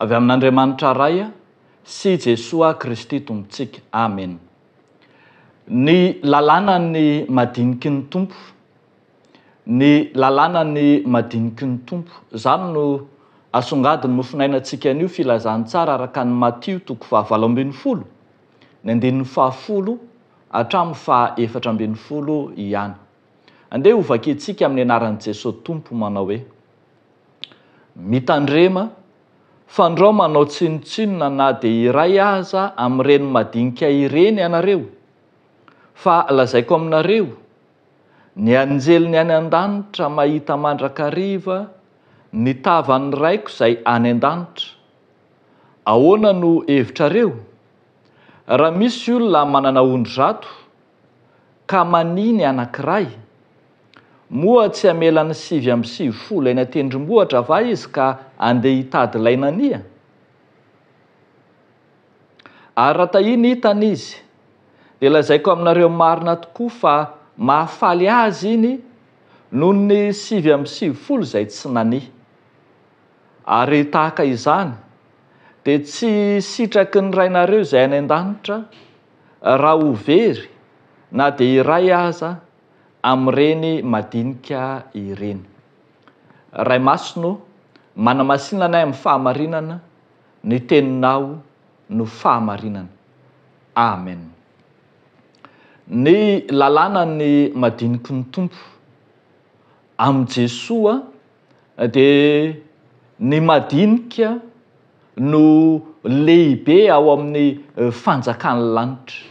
Avy amin'Andriamanitra Ray sy i Jesoa Kristy Tompontsika. Amena. Ny lalànan'ny madiniky ny Tompo. Ny lalànan'ny madiniky ny Tompo. Izany no asongadin'ny mofonainantsika anio Filazantsara araka an'i Matio toko fahavalo ambin'ny folo, ny andininy fahafolo hatramin'ny faha efatra ambin'ny folo ihany. Andeha ho vakiantsika amin'ny anaran'i Jesoa Tompo manao hoe, Mitandrema, fandrao manao tsinontsinona na dia iray aza amin'ireny madinika ireny ianareo, fa lazaiko aminareo, ny anjeliny any an-danitra mahita mandrakariva ny tavan'ny Raiko izay any an-danitra. Ahoana no hevitrareo? Raha misy olona manana ondry zato, Ka mania ny anankiray? Moa tsy hamela ny sivy amby sivifolo eny an-tendrombohitra va izy ka andeha hitady ilay nania? Ary raha tahiany hitany izy, dia lazaiko aminareo marina tokoa fa mahafaly azy iny noho ny sivy amby sivifolo izay tsy nania. Ary tahaka izany, dia tsy sitraky ny Rainareo izay any an-danitra, Raha ho very na dia iray aza amin'ireny madinika ireny. Ray Masina ô, manamasina anay amin'ny fahamarinana, ny Teninao no fahamarinana. Amen. Ny lalànan'ny madiniky ny Tompo. Amin'i Jesoa dia ny madinika no lehibe ao amin'ny fanjakan'ny lanitra.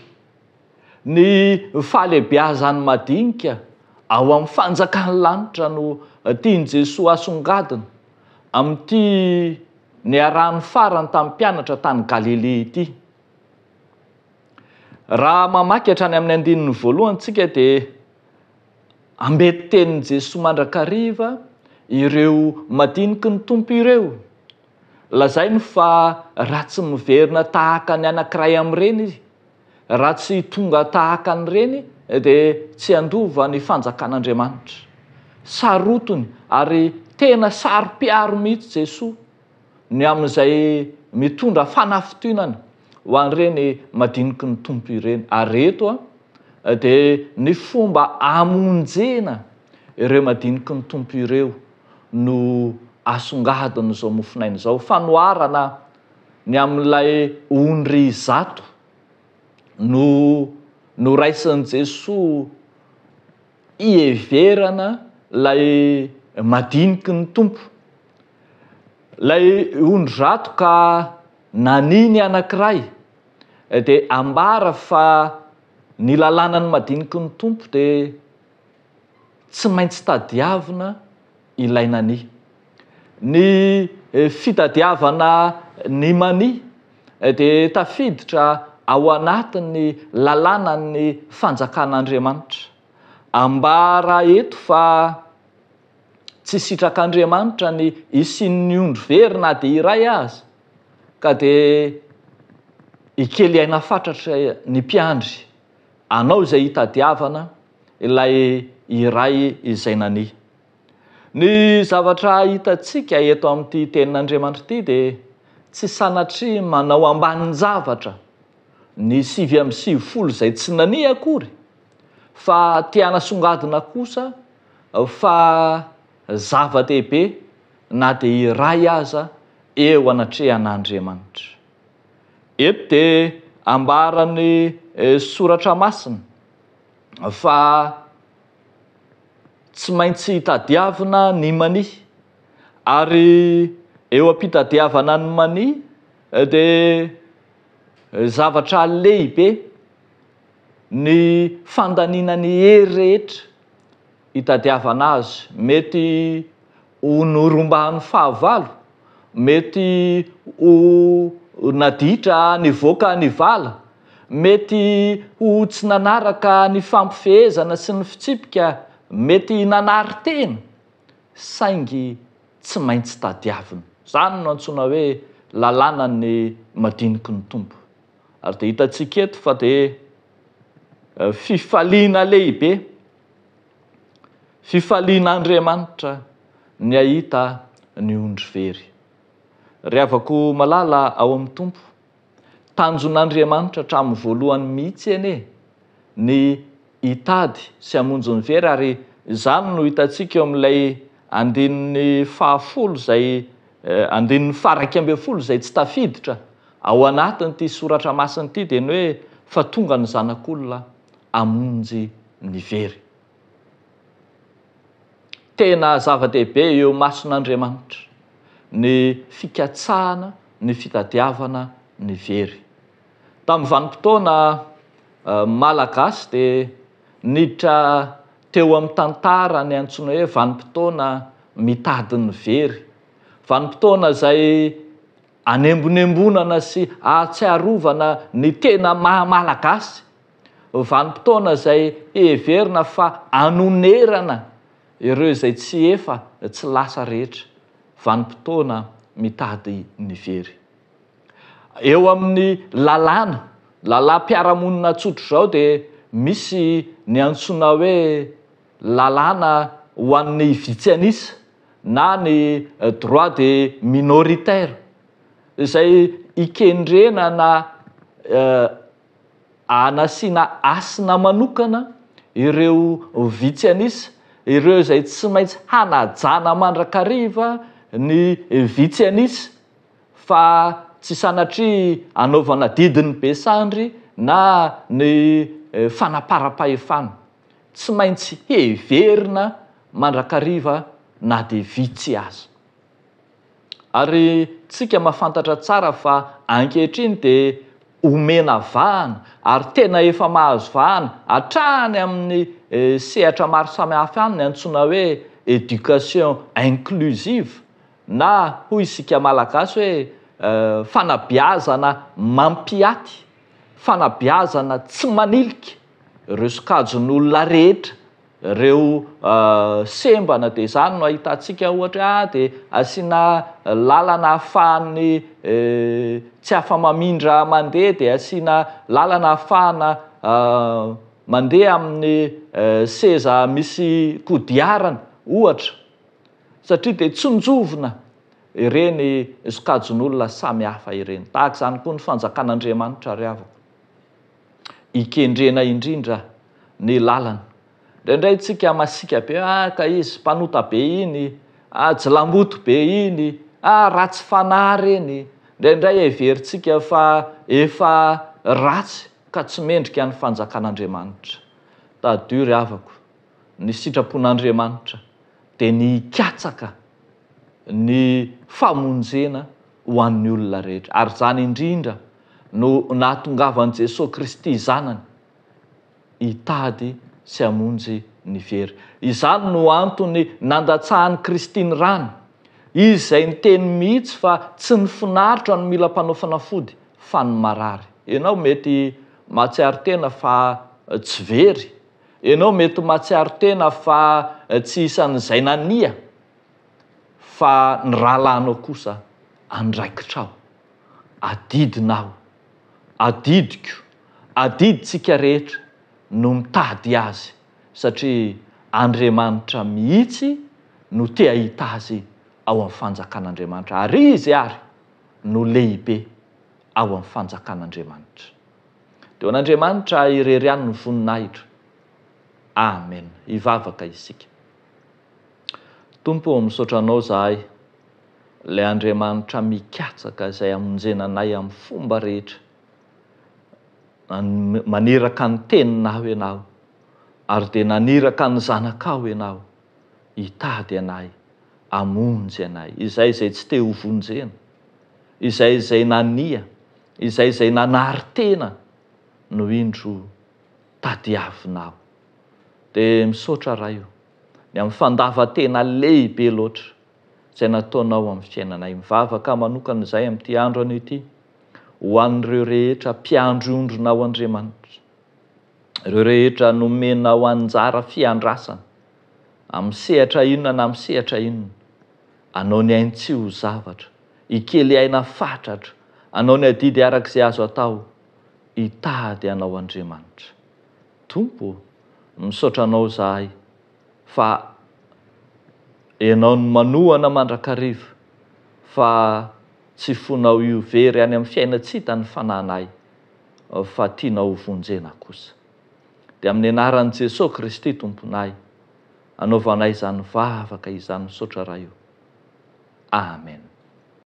Ny fahalehibeazan'ny madinika ao amin'ny fanjakan'ny lanitra no tian'i Jesoa asongadina amin'ity niarahany farany tamin'ny mpianatra tany Galilea ity. Raha mamaky hatrany amin'ny andininy voalohany tsika dia Amben-tenin'i Jesoa mandrakariva ireo madiniky ny Tompo ireo. Lazainy fa raha tsy miverina tahaka ny anankiray amin'ireny izy, raha tsy tonga tahaka an'ireny dia tsy handova ny fanjakan'Andriamanitra. Sarotiny ary tena saro-piaro mihitsy Jesoa. ny amin'izay mitondra fanafitohinana ho an'ireny madiniky ny Tompo ireny. Ary eto dia ny fomba amonjena ireo madiniky ny Tompo ireo no asongadin'izao mofonaina izao. Fanoharana ny amin'ilay ondry zato no noraisin'i Jesoa. Hiheverana ilay madiniky ny Tompo. Ilay ondri-drato ka nania ny anankiray, dia ambara fa ny lalànan'ny madiniky ny Tompo dia tsy maintsy tadiavina, ilaina ny. Ny fitadiavana ny mania dia tafiditra ao anatin'ny lalànan'ny fanjakan'Andriamanitra. Ambara eto fa tsy sitrak'Andriamanitra ny hisian'ny ondry very na dia iray aza ka dia hikely aina fatratra ny mpiandry anao izay hitadiavana ilay iray izay nania. Ny zavatra hitantsika eto amin'ity Tenin'Andriamanitra ity dia tsy sanatria manao ambanin-javatra ny sivy amby sivifolo izay tsy nania akory, fa te hanasongadina kosa fa zava-dehibe na dia iray aza eo anatrehan'Andriamanitra. Eto dia ambaran'ny Soratra Masina. fa tsy maintsy tadiavina ny mania ary eo am-pitadiavana ny mania dia zavatra lehibe ny fandaniana ny hery rehetra itadiavana azy, mety ho norombahany fahavalo, mety ho naditra nivoaka ny vala, mety ho tsy nanaraka ny fampifehezana sy ny fitsipika, mety nanary tena, saingy tsy maintsy tadiavina. Izany no antsoina hoe lalànan'ny madiniky ny Tompo. Ary dia hitantsika eto fa dia fifaliana lehibe Fifalian'Andriamanitra ny hahita ny ondry very. Ry havako malala ao amin'ny Tompo, tanjon'Andriamanitra hatramin'ny voalohany mihitsy anie ny hitady sy hamonjy ny very ary izany no hitantsika eo amin'ilay andininy fahafolo izay andininy faharaika ambin'ny folo izay tsy tafiditra ao anatin'ity soratra masina ity dia ny hoe fa tonga ny Zanak'olona hamonjy ny very. Tena zava-dehibe eo mason'Andriamanitra ny fikatsahana ny fitadiavana ny very. Tamin'ny vanim-potoana malagasy dia niditra teo amin'ny tantara ny antsoina hoe vanim-potoana mitady ny very. Vanim-potoana izay Anembonembonana sy ahatsiarovana ny tena maha Malagasy, vanim-potoana izay heverina fa anonerana ireo izay tsy efa tsy lasa rehetra, vanim-potoana mitady ny very. Eo amin'ny lalàna, lalàm-piarahamonina tsotra izao dia misy ny antsoina hoe, lalàna ho an'ny vitsy an'isa na ny droit de minoritaire izay ikendrena na anasiana hasina manokana ireo vitsy an'isa, ireo izay tsy maintsy hanajana mandrakariva ny vitsy an'isa fa tsy sanatria anaovana didin'ny be sandry na ny fanaparam-pahefana. tsy maintsy heverina mandrakariva na dia vitsy aza. Ary tsika mahafantatra tsara fa ankehitriny dia omena vahana ary tena efa mahazo vahana hatrany amin'ny sehatra maro samihafa ihany ny antsoina hoe éducation inclusive na hoy isika malagasy hoe fanabeazana mampiaty, fanabeazana tsy manilika. ireo sokajin'olona rehetra, ireo sembana dia izany no ahitantsika ohatra hoe ah dia asiana lalana ahafahan'ny tsy afa-mamindra mandeha dia asiana lalana ahafahana mandeha amin'ny seza misy kodiarana ohatra satria dia tsinjovina ireny sokajin'olona samy hafa ireny, tahaka izany koa ny fanjakan'Andriamanitra ry havako. hikendrena indrindra ny lalana. Indraindray tsika masiaka be, ah ka izy mpanota be iny, ah jilamboto be iny, ah ratsy fanahy ireny, indraindray heverintsika fa efa ratsy ka tsy mendrika ny fanjakan'Andriamanitra. Tadidio ry havako. ny sitrapon'Andriamanitra dia ny hikatsaka ny famonjena ho an'ny olona rehetra, ary izany indrindra no nahatongavan'i Jesoa Kristy Zanany hitady sy hamonjy ny very. Izany no antony nandatsahan'i Kristy ny rany, Izy izay niteny mihitsy fa tsy ny finaritra no mila mpanao fanafody fa ny marary. Ianao mety mahatsiaro tena fa tsy very. Ianao mety ho mahatsiaro tena fa tsy isan'izay nania fa ny rahalahinao kosa andraikitrao. Adidinao. Adidiko. Adidintsika rehetra no mitady azy satria Andriamanitra mihitsy no te hahita azy ao amin'ny fanjakan'Andriamanitra ary izy àry no lehibe ao amin'ny fanjakan'Andriamanitra. Dia ho an'Andriamanitra irery ihany ny voninahitra. Amen. Hivavaka isika. Tompo ô, misaotra Anao izahay, ilay Andriamanitra mikatsaka izay hamonjena anay amin'ny fomba rehetra, maniraka ny Teninao Ianao, ary dia naniraka ny Zanakao Ianao. hitady anay, hamonjy anay, izay izay tsy te ho vonjena, izay izay nania, izay izay nanary tena no indro tadiavinao. Dia misaotra Ray o, ny amin'ny fandavan-tena lehibe loatra izay nataonao amin'ny fiainanay. Mivavaka manokana izahay amin'ity andro anio ity, ho an'ireo rehetra mpiandry ondrinao Andriamanitra. Ireo rehetra nomenao anjara fiandrasana, amin'ny sehatra inona na amin'ny sehatra inona, anao ny ainy tsy ho zavatra, hikely aina fatratra, anao ny adidy araka izay azo atao, hitady anao Andriamanitra. Tompo ô, misaotra anao izahay fa Ianao no manohana mandrakariva, fa tsy fonao io very any amin'ny fiaina-tsy hita ny fanahinay, fa tianao ho vonjena kosa. Dia amin'ny anaran'i Jesoa Kristy Tomponay, anaovanay izany vavaka izany misaotra Ray o. Amen.